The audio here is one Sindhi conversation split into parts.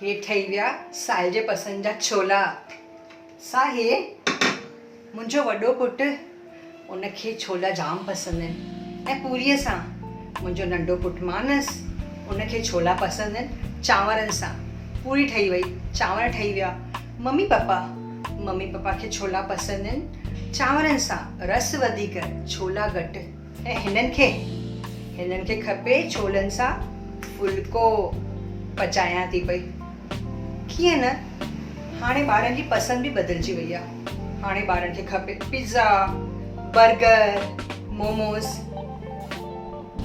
هي ٺهي ويا سائي جي پسند جا ڇولا سائي منهنجو وڏو پٽ ان کي ڇولا جام پسند آهن ۽ پوريء سان منهنجو ننڍو پٽ مانس ان کي ڇولا پسند آهن چانورن سان پوري ٺهي وئي چانور ٺهي ويا ممي پپا، ممي پپا کي ڇولا پسند آهن، چانورن سان رس وڌيڪ ڇولا گهٽ. ۽ هنن کي؟ هنن کي کپي ڇولن سان ڦلڪو، پچايان ٿي پئي. ڪيئن نه، هاڻي ٻارن جي پسند به بدلجي وئي آهي، هاڻي ٻارن کي کپي پزا، برگر، موموز.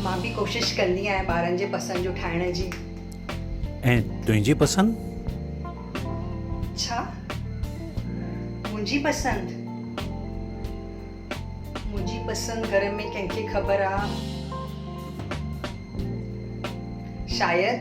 مان به ڪوشش ڪندي آهيان ٻارن جي پسند جو ٺاهڻ جي. ۽ تنهنجي پسند؟ ڇا منهنجي پسند؟ منهنجي پسند گهر ۾ ڪنهن کي خبر آ؟ شايد.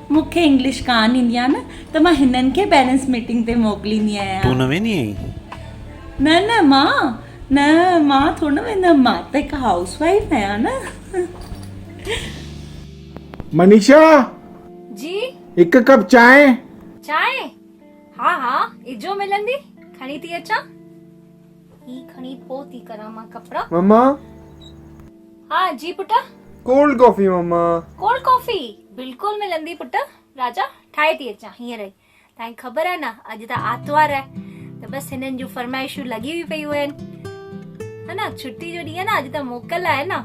مون کي انگلش ڪانه ايندي آهي نه ته مان هنن کي پيرنٽس ميٽنگ تي موڪليندي آهيان. تون نه ويندي آهين؟ نه نه مان نه مان ٿوري نه ويندم مان ته هڪ هائوس وائيف آهيان نه. منيشا! جي؟ هڪ ڪپ چانهه. چانهه؟ ها ها اجهو ملندي کڻي ٿي اچان. هي کڻي پوء ٿي ڪران مان ڪپڙا. مما! ها جي پٽ. Cold coffee mama! Cold coffee! بلڪل ملندي پٽ. راجا ٺاهي ٿي اچان هينئر ئي. تانکي خبر آهي نه اڄ ته آرتوار آهي ته بس هنن جون فرمائشون لڳيون ئي پيون آهن. ها نه ڇٽي جو ڏينهن آهي نه اڄ ته موڪل آهي نه.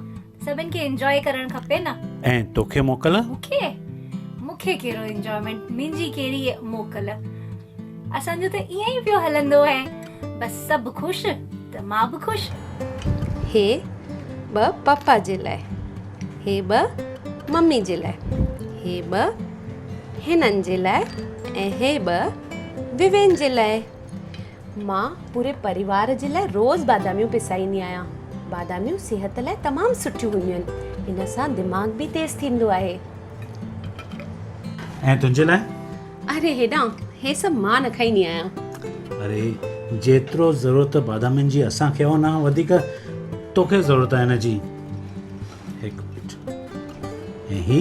سڀن کي انجوائي ڪرڻ کپي نه. ۽ توکي موڪل؟ مونکي؟ مونکي ڪهڙو انجوائيمينٽ منهنجي ڪهڙي موڪل. اسان جو ته ائين ئي پيو هلندو اهي بس سڀ خوش ته مان به خوش. هي ٻه پاپا جي لاء هي ٻه ممي جي لاء هي ٻه هنن جي لاء ۽ هي ٻه ووين جي لاء. مان پوري پريوار جي لاء روز باداميون پيسائيندي آهيان باداميون صحت لاء تمام سٺيون هونديون آهن ان سان دماغ به تيز ٿيندو آهي ۽ تنهنجي لاء اري هيڏانهن هي سڀ مان نه کائيندي آهيان اري جيترو ضرورت بادامين جي اسان کي ان کان وڌيڪ توکي ضرورت آهي ان جي هڪ منٽ ۽ هي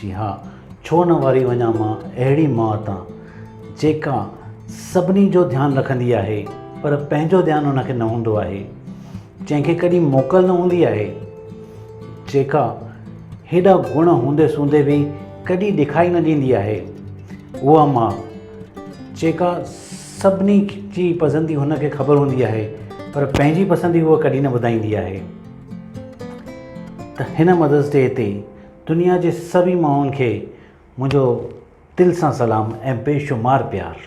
جي ها، ڇو نه واري وڃان مان اهڙي ماء تان، جيڪا سڀني جو ڌيان رکندي آهي، پر پنهنجو ڌيان ان کي نه هوندو آهي، جنهن کي ڪڏهن موڪل نه هوندي آهي، جيڪا هيڏا گڻ هوندي سوندي به ڪڏهن ڏکائي نه ڏيندي آهي، اها ماء، جيڪا سڀني جي پسندي هن کي خبر هوندي آهي، پر پنهنجي پسندي هوء ڪڏهن نه ٻڌائيندي آهي ته هن مدرس ڊي تي دنيا جي سڀئي ماڻهن کي منهنجو دل سان سلام ۽ بي شمار پيار.